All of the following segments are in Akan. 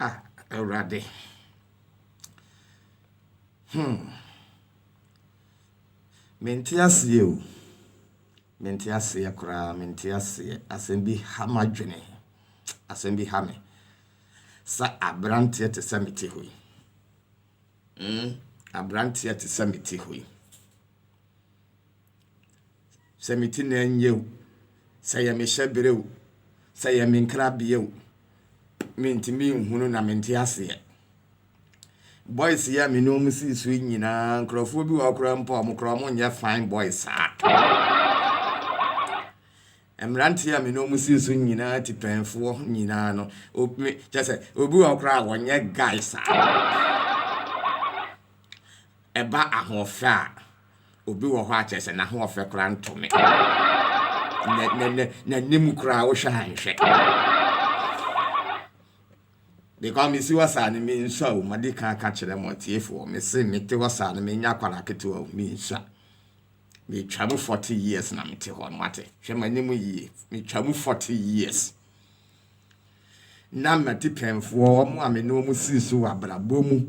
Ah, Awurade. Hmm. Mente aseɛ o. Mente aseɛ koraa, mente aseɛ. Asɛm bi ha m'adwene. Asɛm bi ha me. Sɛ aberanteɛ te sɛ mete hɔ yi. Hmm. Aberanteɛ te sɛ mete hɔ yi. Sɛ me ti na ɛnyɛ o, sɛ yɛ me hyɛbere o, sɛ yɛ me nkrabea o, mentumi nhunu na mente aseɛ. Boys yi a me ne wɔn sii so nyinaa, nkurɔfoɔ bi wɔ hɔ koraa mpo a wɔn koraa wɔn nyɛ fine boys saa. Mmeranteɛ a me ne wɔn sii so nyinaa, tipɛnfoɔ nyinaa no, obi kyɛ sɛ obi wɔ hɔ koraa a wɔn nyɛ guy saa. Ɛba ahoɔfɛ a. Obi wɔ hɔ a kyerɛ sɛ n'ahoɔfɛ koraa nto me. N'anim koraa wohwɛ a nhwɛ. Because mesi hɔ saa no mensua o, madi kan aka kyerɛ mo atiefoɔ. Mese mete hɔ saa no menyɛ akwadaa ketewa o, mensua. Metwa mu 40 years na mete hɔ no mate. Hwɛ m'anim yie, metwa mu 40 years. Na m'atipɛnfoɔ, wɔn a me ne wɔn sii so wɔ abrabɔ mu,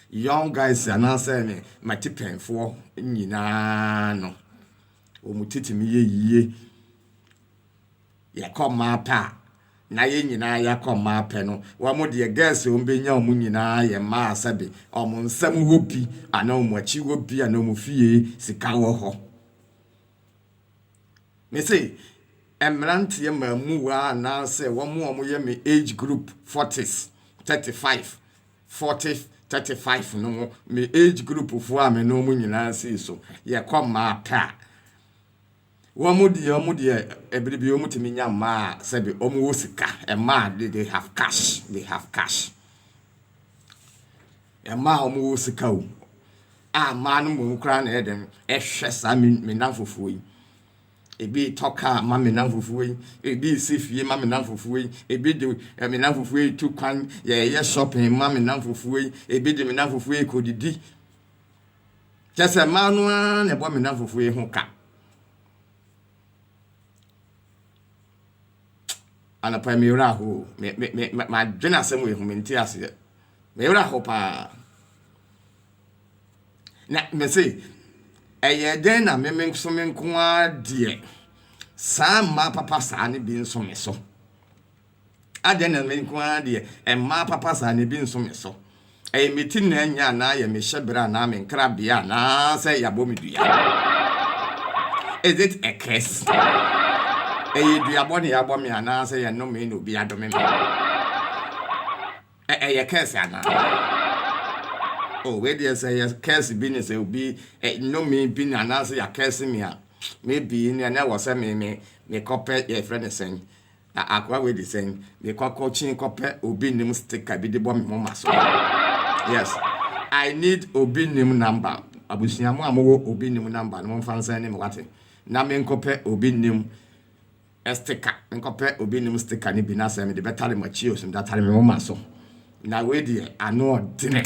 Young guys anaasɛ me m'atipɛnfoɔ nyinaa no, wɔn tete no yɛ yie. Yɛkɔ mmaa pɛ a, na yɛn nyinaa yɛakɔ mmaa pɛ no. Wɔn deɛ girls wɔn bɛnya wɔn nyinaa yɛ mmaa a sɛbe wɔn nsam hɔ bi anaa wɔn akyi hɔ bi anaa wɔn fie sika wɔ hɔ. Me se mmeranteɛ mmamuwa anaasɛ wɔn a wɔyɛ me age group forties, thirty five. forty, thirty five no mu, me age group foɔ a me ne wɔn nyinaa sii so, yɛkɔ mmaa pɛ a, wɔn deɛ wɔn deɛ ɛbere bi wɔn tumi nya mmaa a sɛbi wɔn wɔ sika, mmaa de they have cash, they have cash, mmaa a wɔn wɔ sika o, a mmaa no mmom koraa na ɛyɛ dɛn ɛhwɛ saa me me nanfofoɔ yi. Ebi retɔ kaa ma me nnamfofoɔ yi, ebi resi fie ma me nnamfofoɔ yi, ebi de eh, me nnamfofoɔ yi retu kwan, yɛreyɛ shopping ma me nnamfofoɔ yi, ebi de me nnamfofoɔ yi rekɔdidi. Kyɛ sɛ mmaa no ara na ɛbɔ me nnamfofoɔ yi ho ka. Anɔpa yi meyerɛ aho o, me- me- me- me- madwene asɛm wei ho mente aseɛ. Meyerɛ aho paa. Na mese, Ɛyɛɛ dɛn na me me nso me nko ara deɛ saa mmaa papa saa no bi nso me so? Adɛn na me nko ara deɛ mmaa papa saa no bi nso me so? Ɛyɛ me ti na anya anaa ɛyɛ me hyɛberɛ anaa me nkrabea anaasɛ yɛabɔ me dua? Is it a curse? Ɛyɛ duabɔ na yɛabɔ me anaasɛ yɛnnome na obi adome me? Ɛ ɛyɛ curse anaa? Oh wei deɛ sɛ yɛ curse bi ne sɛ obi ɛ nnome bi ne anaasɛ yɛ a curse me a maybe neɛ na ɛwɔ sɛ me me mekɔpɛ yɛfrɛ ne sɛn a akoa wei de sɛn mekɔ kɔkyin kɔpɛ obi nim sticker bi de bɔ me moma so yes I need obi nim number abusua mu a mowɔ obi nim number no momfa nsɛn ne me wate na menkɔpɛ obi nim Sticker, Menkɔpɛ obi nnim sticker no bi na sɛ mede bɛtare mo akyi o, so mede atare me nwoma so? Na wei deɛ ano ɔdene.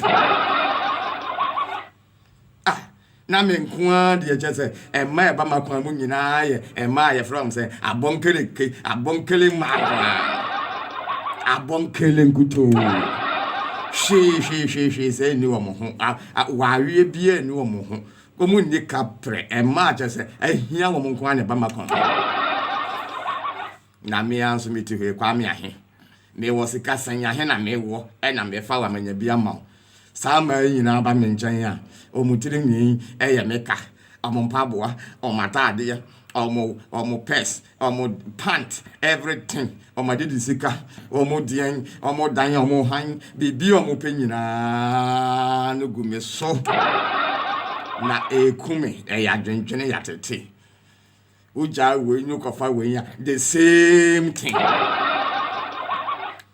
Ah, na me nko ara deɛ kyɛ sɛ ɛmma ɛba m'akwan mu nyinaa yɛ ɛmma a yɛfrɛ wɔn sɛ abɔnkele ke, abɔnkele mmaa nko ara. Abɔnkele nkutoo. Hwee hwee hwee hwee sɛ nni wɔn ho. Awareɛ biara nni wɔn ho. Wɔn nni ka prɛ, mmaa kyɛ sɛ ahia wɔn nko ara na ɛba makɔn ho. Na me ara nso me ti hɔ yi, Kwame ahe? Mewɔ sika sɛn? Ahe na mewɔ na mefa wa manya bi ama wo? Saa mmaa yi nyinaa ba me nkyɛn a, wɔn tiri nwi yɛ me ka, wɔn mpaboa, wɔn ataadeɛ, wɔn wɔn purse, Ɔmo pant everything, ɔmo de di sika, ɔmo deɛn, ɔmo dan, ɔmo han, biribi ɔmo pɛ nyinaa no gu me so. Na eku me, ɛyɛ adwendwene yatete. Wogyaa wei no kɔfa wei a, the same thing.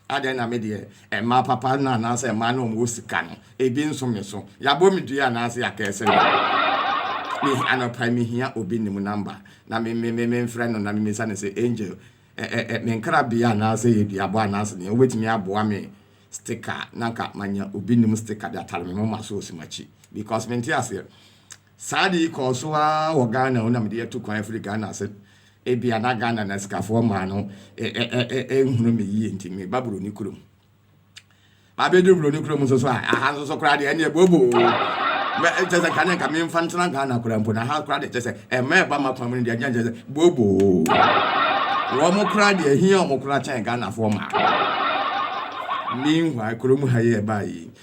Adɛn na me deɛ, mmaa papa no anaasɛ mmaa no a wɔwɔ sika no, ebi nso me so? Yɛabɔ me dua anaasɛ yɛakɛse me? Me, anɔpa yi, mehia obi nim number, na me, me, me, memfrɛ no na memmisa no sɛ, Angel, ɛ, ɛ, ɛ, me nkrabea anaasɛ yɛ duabɔ anaasɛ deɛn, wobɛtumi aboa me sticker, na anka manya obi nim sticker de atare me moma so wɔ Sumakyi, because mente aseɛ. Saa ade yi kɔɔ so ara wɔ Ghana o na mede atu kwan afiri Ghana ase. Ebia na Ghana nnasikafoɔ mmaa no nhunu me yie nti meba Buroni kurom. Mabɛduru Buroni kurom nso so a, aha nso so koraa deɛ ɛneɛ booboo o. Kyɛ sɛ kane nka memfa ntena Ghana koraa mpo na aha koraa deɛ kyɛ sɛ ɛma ɛba m'akoma mu no deɛ ɛneɛ kyɛ sɛ booboo o. Wɔn koraa deɛ ɛhia wɔn koraa kyɛn Ghanafoɔ mmaa. Meanwhile, kurom ha yi ɛbaa yi,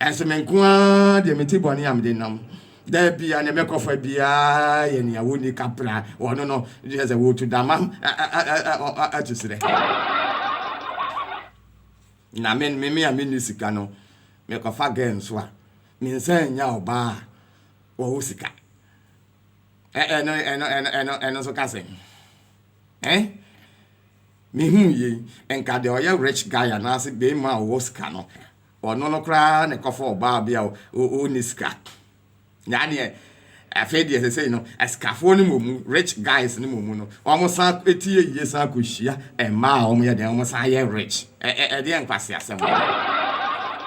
Ɛnso me nko ara deɛ mete bɔne a mede nam da biara ne mɛkɔ fa biara yɛ nea wɔnni ka pra wɔ no no, kyerɛ sɛ wɔtu dama to serɛ. Na me me me a menni sika no, mekɔfa gɛɛ nso a, mensan nya ɔbaa a wɔwɔ sika. Ɛno ɛno ɛno ɛno ɛno nso ka sɛn? Eh? Mehu yei, nka deɛ ɔyɛ rich guy anaasɛ bɛrima a ɔwɔ sika no, Ɔno no koraa na ɛkɔfa ɔbaa bi a ɔnni sika. Nyaa deɛ afei deɛ sɛsɛi no asikafoɔ no mmɔmu, rich guys no mmɔmu no, wɔn san ti yɛ yie san kɔhyia mmaa a wɔn yɛ dɛn wɔn san yɛ rich. Ɛ ɛ ɛdeɛ nkwaseasɛm wɔ mu.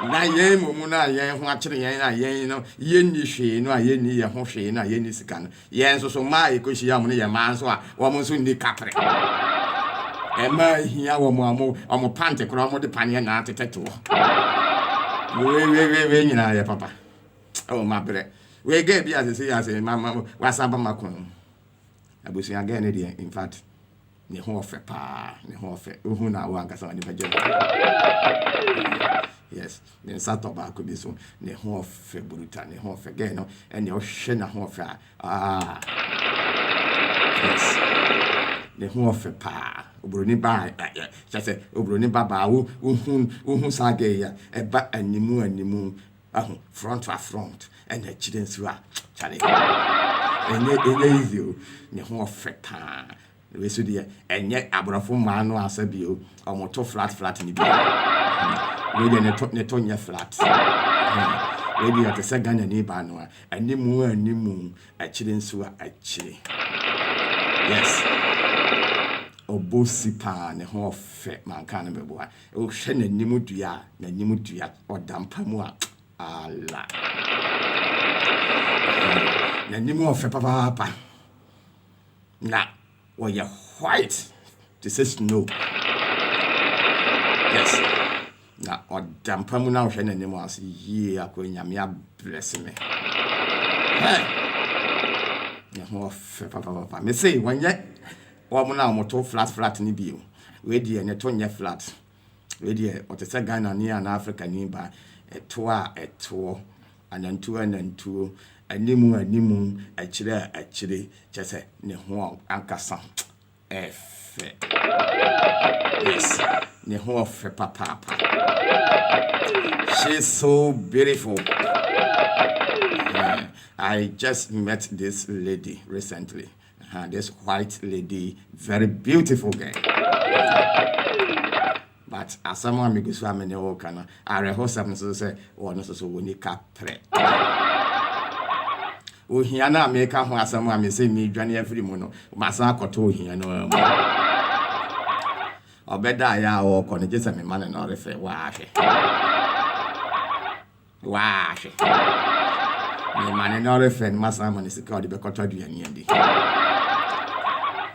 Na yɛn mmɔmu no a yɛn ho akyere yɛn a yɛn no yɛnni hwee no a yɛnni yɛn ho hwee no a yɛnni sika no, Yɛn nso so mmaa a yɛkɔhyia wɔn no yɛ mmaa nso a wɔn nso nni katere. Mmaa a ehia wɔn a wɔn wɔn pante koraa wɔde paneɛ na atetɛ toɔ. Wei wei wei wei nyinaa yɛ papa. Oh mabrɛ. Wei gɛɛ bi a sese yɛ ase ma ma wasan ba ma kɔn mu. Abusua gɛɛ ne deɛ in fact. ne ho ɔfɛ paa ne ho ɔfɛ wohu na wo ankasa w'ani bɛgye ho yes ne nsa tɔ baako bi so ne ho ɔfɛ buruta ne ho ɔfɛ gɛɛ no ɛnea ɔhwɛ na ho ɔfɛ a ah yes ne ho ɔfɛ paa oburoni baa kyɛ sɛ oburoni babaa wo wohu wohu saa gɛɛ yi a ɛba animu animu Ahu front a front ɛna akyire nso a kyale ɛnyɛ ɛnyɛ easy o ne ho ɔfɛ paa na wei so deɛ ɛnyɛ aborɔfo mmaa no asɛ bi o wɔn to flat flat ne bi wei deɛ ne to ne to nyɛ flat wei deɛ ɔte sɛ Ghana ni baa no a animu a animu akyire nso a akyire yes obosi paa ne ho ɔfɛ manka no bɛboa Wohwɛ n'anim dua a, n'anim dua ɔda mpa mu a, ala. N'anim ɔfɛ papaapa. Na ɔyɛ white te sɛ snow. Yes. Na ɔda mpa mu na wohwɛ n'anim a, sɛ yie akɔ nyame abrɛse me. Hey! Ne ho ɔfɛ papaapa. Me se wɔnyɛ Wɔn a wɔto flat flat no bio. Wei deɛ ne to nyɛ flat. Wei deɛ ɔte sɛ Ghanani anaa Afrikani ba. Ɛtoɔ a ɛtoɔ. Anantuo a nantuo. Anim a anim. Akyire a akyire. Kyerɛ sɛ ne ho ankasa yɛ fɛ. Yes, ne ho yɛ fɛ papaapa. She's so beautiful. I just met this lady recently. Uh-huh, this white lady, very beautiful girl. but asɛm a megu so a mene wo ka no awerɛhosɛm no so sɛ wɔno so so wɔni kaprɛ ohia no a meka ho asɛm a mesɛ medwane afiri mu no masan akɔtɔ ohia no mu ɔbɛda ayɛ a wɔkɔ no gye sɛ mema no na ɔrefɛ waahwɛ Waa hwɛ. Mema no na ɔrefrɛ no masan ama no sika a ɔde bɛkɔtɔ aduane adi.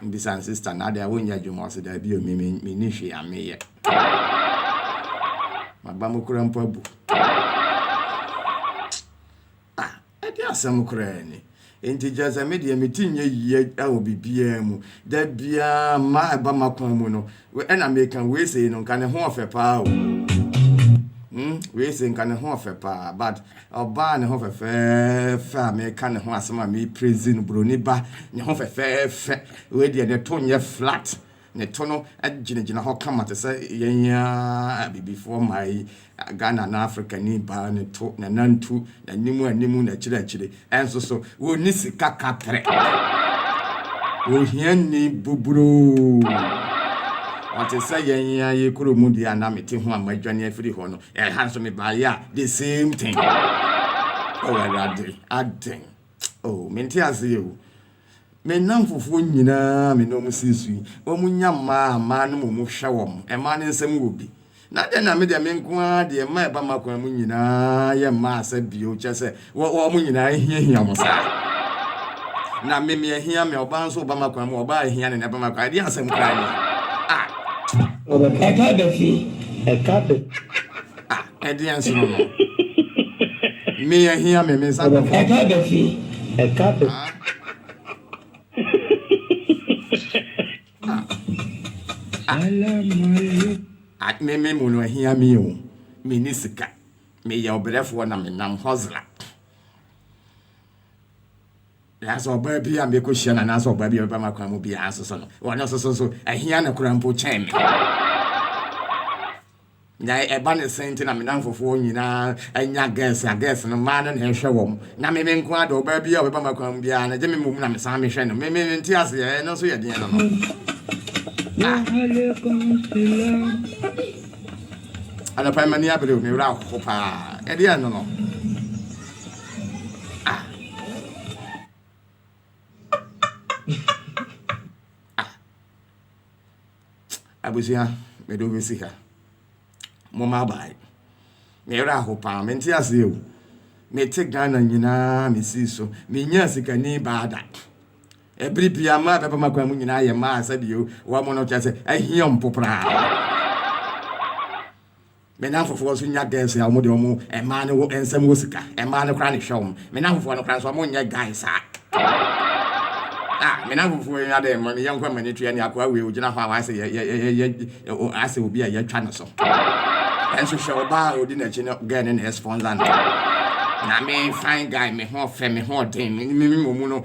Mebisa no, Sista, na adɛn a wonyɛ adwuma? Ɔse, Daabi o, me me menni hwee a meyɛ. M'abam koraa mpo abu. Ah! Ɛdeɛn asɛm koraa ni? Enti kyerɛ sɛ me deɛ me ti nyɛ yie wɔ biribiara mu. Da biara mmaa a ɛba m'akwan mu no, ɛna meka wei sei no nka ne ho ɔfɛ paa o. Hmm, wei sei nka ne ho ɔfɛ paa. But ɔbaa a ne ho fɛfɛɛfɛ a meka ne ho asɛm a mepraise no, buroni ba, ne ho fɛfɛɛfɛ, wei deɛ ne to nyɛ flat. Ne to no gyinagyina hɔ kama te sɛ yɛn ara Abibifoɔ mmaa yi, Ghana anaa Afrikani baa ne to, n'anantu, n'anim anim, n'akyiri akyiri. Ɛnso so, wɔnni sika katrɛ. Ohiani buburoo. Ɔte sɛ yɛn ara yi kuro mu deɛ a na mete ho a madwane afiri hɔ no, ɛha nso mebaeɛ a, the same thing. Oh Awurade, adɛn? Oh, mente aseɛ o. Me nnamfofoɔ nyina ara me ne wɔn sii so yi, wɔnya mma a mmaa no mmom hwɛ wɔn. Mmaa no nsam wɔ bi. Na adɛn na me deɛ me nko ara deɛ mma a ɛba m'akwan mu nyina ara yɛ mma asa bio, kyerɛ sɛ, wɔ, wɔn nyina ara hiahia wɔn saa? Na me, me ahia me, ɔbaa nso ɔba m'akwan mu, ɔbaa a ahia no na ɛba m'akwan. Ɛdeɛn asɛm koraa nie? Ah! Ɛka da fi, ɛka da. Ah, ɛdeɛ nso no no. Me yɛ hia me, me nsa bɛfo. Ɛka bɛfi, ɛka bɛfi. Ah. Ah. Ah, me me mu no ahia me o. Me ni sika. Me yɛ ɔbrɛfoɔ na me nam hɔzla. Nanso ɔbaa bi a meko hyia na nanso ɔbaa bi a bɛba m'akwan mu biara nso so no, wɔn nso so nso ahia no koraa mpo kyɛn me. Na ɛba ne sɛn nti na me nnamfofoɔ nyinaa anya girls, na girls no mmaa no na ɛhwɛ wɔn, na me me nko ara de, ɔbaa biara a ɔbɛba m'akwan mu biara no, gye me mmom na mesan mehwɛ no? Me, me, mente aseɛ, ɛno nso yɛ deɛn no no? Ah! Anɔpa yi m'ani abere o, me werɛ ahoho paa, ɛdeɛn no no? Ah! Ah! Abusua, mede wo bɛsi ha. Momma abae. Me werɛ aho paa. Mente aseɛ o. Mete Ghana nyinaa mesii so. Menyaa sikani baa da. Ɛbere bia mmaa a bɛba m'akwan mu nyinaa yɛ mmaa a sɛdeɛ wɔn no kyerɛ sɛ ahia mpo koraa. Me nnamfofoɔ nso nya girls a wɔde wɔn mmaa no wɔ nsam wɔ sika. Mmaa no koraa na ɛhwɛ wɔn. Me nnamfofoɔ no koraa nso wɔnyɛ guy saa. Ah, me nnamfofoɔ yi adɛn ma ne yɔnko amani tua ne akoa wei ogyina hɔ a wayɛ sɛ yɛ yɛ yɛ yɛ ayɛ sɛ obi a yɛatwa no so. Nanso hwɛ ɔbaa a ɔdi n'akyi no girl no na ɛsponsor no. Na me fine guy me ho ɔfɛ me ho ɔden me me me wɔ mu no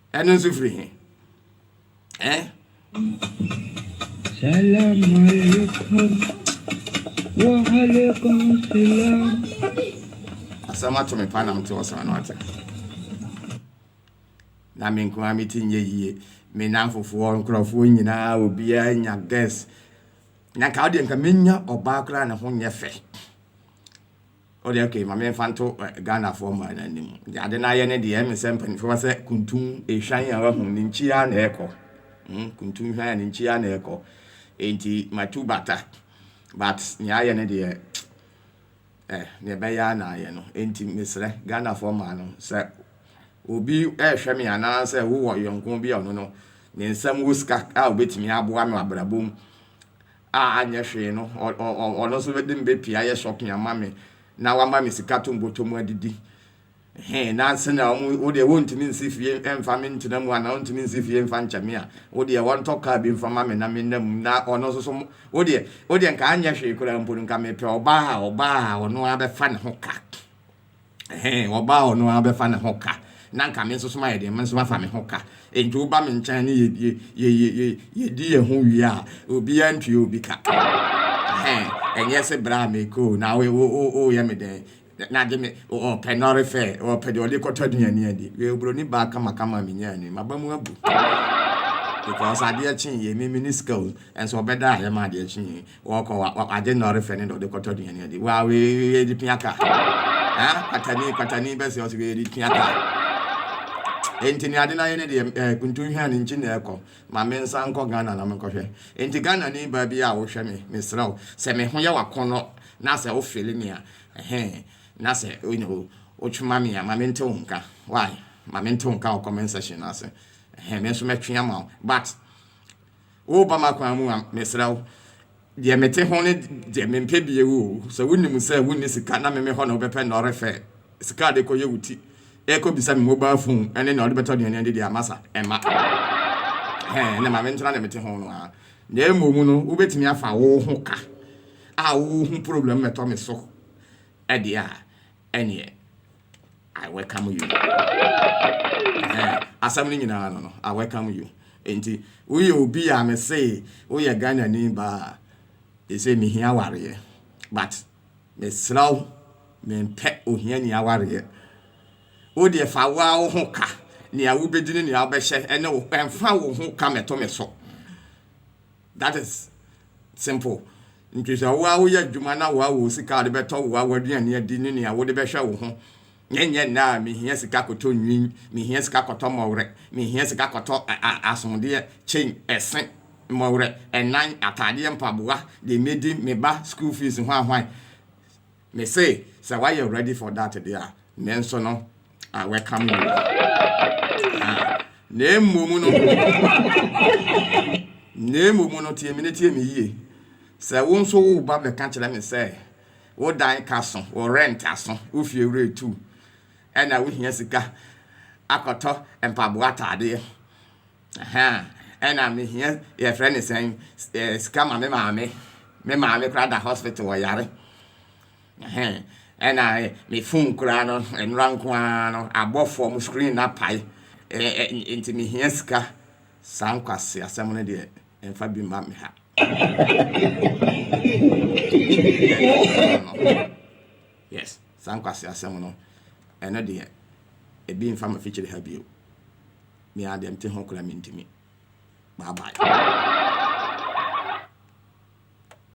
Ɛno nso firi he? Eh? Salam alaikum wa alaikum salam. Asɛm ato me pa na mete ɔsra no ate. Na me nkoa me ti nyɛ yie. Me namfofoɔ nkurɔfoɔ nyinaa obiara nya guest. Na nka wodeɛ nka menya ɔbaa koraa ne ho nyɛ fɛ. O deɛ okay ma me nfa nto Ghana foɔ mmaa no anim. Deɛ ade no ayɛ ne deɛ ɛme sɛ mpaninfoɔ bɛka sɛ kuntum ehwan a wahu ne nkyi ara na ɛkɔ. Hmm kuntum ehwan a ne nkyi ara na ɛkɔ. Enti matu bata but nea ayɛ ne deɛ eh nea ɛbɛyɛ ara na ayɛ no. Enti mesrɛ Ghana foɔ mmaa no sɛ obi ɛrehwɛ me anaa sɛ wowɔ yɔnko bi a ɔno no ne nsam wɔ sika a obetumi aboa no abrabɔ mu a anyɛ hwee no, ɔno nso de me bɛpie ayɛ shopping ama me na wama me sika to mbɔtɔ mu adidi. He, nanse na ɔmo, wo deɛ wontumi nsi fie mfa me ntena mu anaa wontumi nsi fie mfa nkyɛ me a, wo deɛ wɔntɔ kaa bi mfa ma me na menna mu na ɔno nso so, wo deɛ, wo deɛ nka anyɛ hwee koraa mpo no nka mepɛ ɔbaa a, ɔbaa a ɔno ara bɛfa ne ho ka. Ɛhɛn, wɔbaa ɔno ara bɛfa ne ho ka. Na anka me nso so mayɛ deɛ, me nso mafa me ho ka. Enti woba me nkyɛn ne yɛ, yɛ, yɛ, yɛ, yɛ, yɛdi yɛn ho wie a, obiara ntua obi ka. Ɛhɛn, ɛnyɛ se berɛ a mekɔ o, na wo, wo, wo, woyɛ me dɛn? Na gye me, ɔpɛ nɔre fɛ, ɔpɛ deɛ ɔde kɔtɔ aduane adi. Wei oburoni baa kamakama a menyaa no yi, m'aba mu abu. Because adeɛ kyeeɛ, me, menni sika o, nso ɔbɛdaa yɛ ma adeɛ kyeeɛ. Wɔkɔ wa wa wagye nnɔre fɛ ne dɔ de kɔtɔ aduane adi. Wa we we de pia ka. Ha? Kwatani kwatani bɛsɛ ɔsɛ we de pia ka. Enti ne ade no ayɛ ne deɛ eh, kuntu hwɛ a ne nkyi na ɛkɔ. Ma me nsa nkɔ Ghana na menkɔhwɛ. Enti Ghana ni baa bi a wohwɛ me, mesrɛ wo, sɛ me ho yɛ wakɔnnɔ na sɛ wo fili me a, ɛhɛn, na sɛ you know, wotwe ma me a, ma mente wo nka. Why? Ma mente wo nka wɔ comment section no ase. Ɛhɛn, me nso mɛtwe ama wo. But. Woreba m'akwan mu a, mesrɛ wo, deɛ mete ho ne deɛ mempɛ bie wo o. Sɛ wonim sɛ wonni sika na meme hɔ na wobɛpɛ nea ɔrefɛ sika a wode rekɔyɛ wo ti, rekɔbisa me mobile phone ne nea wode bɛtɔ aduane adi deɛ a, masa. Ɛmma. Ɛhɛɛ, ɛnna ma mentena deɛ mete ho no ara. Na mmom no, wobɛtumi afa wo ho ka a wohu problem mmɛtɔ me so deɛ a. Ɛneɛ I welcome you ɛhɛn asɛm no nyinaa no no I welcome you nti woyɛ obi a me se woyɛ Ghanani ba a ɛsɛ mehia awareɛ but mesrɛ wo mempɛ ohiani awareɛ wo deɛ fa wo ara wo ho ka nea wobɛdi ne nea wobɛhyɛ ɛne wo ɛmfa wo ho ka mɛto me so. that is simple nti sɛ wo a woyɛ adwuma na wo a wɔ sika a wode bɛtɔ wo a w'aduane adi ne nea wode bɛhwɛ wo ho ne nyɛ nna a mehia sika kɔtɔ nwin mehia sika kɔtɔ mmɔwerɛ mehia sika kɔtɔ asodeɛ chain ɛse mmɔwerɛ ɛnan ataadeɛ mpaboa deɛ medi me ba school fees hwan hwan Mese sɛ wayɛ ready for that deɛ a, nanso no I welcome you ah, na mmom no na mmom no tie me ne tie me yie sɛ wo nso wo ba bɛka kyerɛ me sɛ wo dan ka so wo rent aso wo fie wura etu ɛna wohia sika akɔtɔ mpaboa ataadeɛ Ɛhɛn, ɛna mihia, yɛfrɛ no sɛn, sika ma me maame. Me maame koraa da hospital, ɔyare. Ɛhɛn, ɛna me phone koraa no, nnora nko ara no, abɔ fɔm, screen no apae. Ɛɛ, nti mihia sika. Saa nkwaseasɛm no deɛ, mfa bi mma me ha. Yes, saa nkwaseasɛm no, ɛno deɛ, ebi mfa m'afikyiri ha bio. me ara deɛ mte ho koraa mentumi bye bye.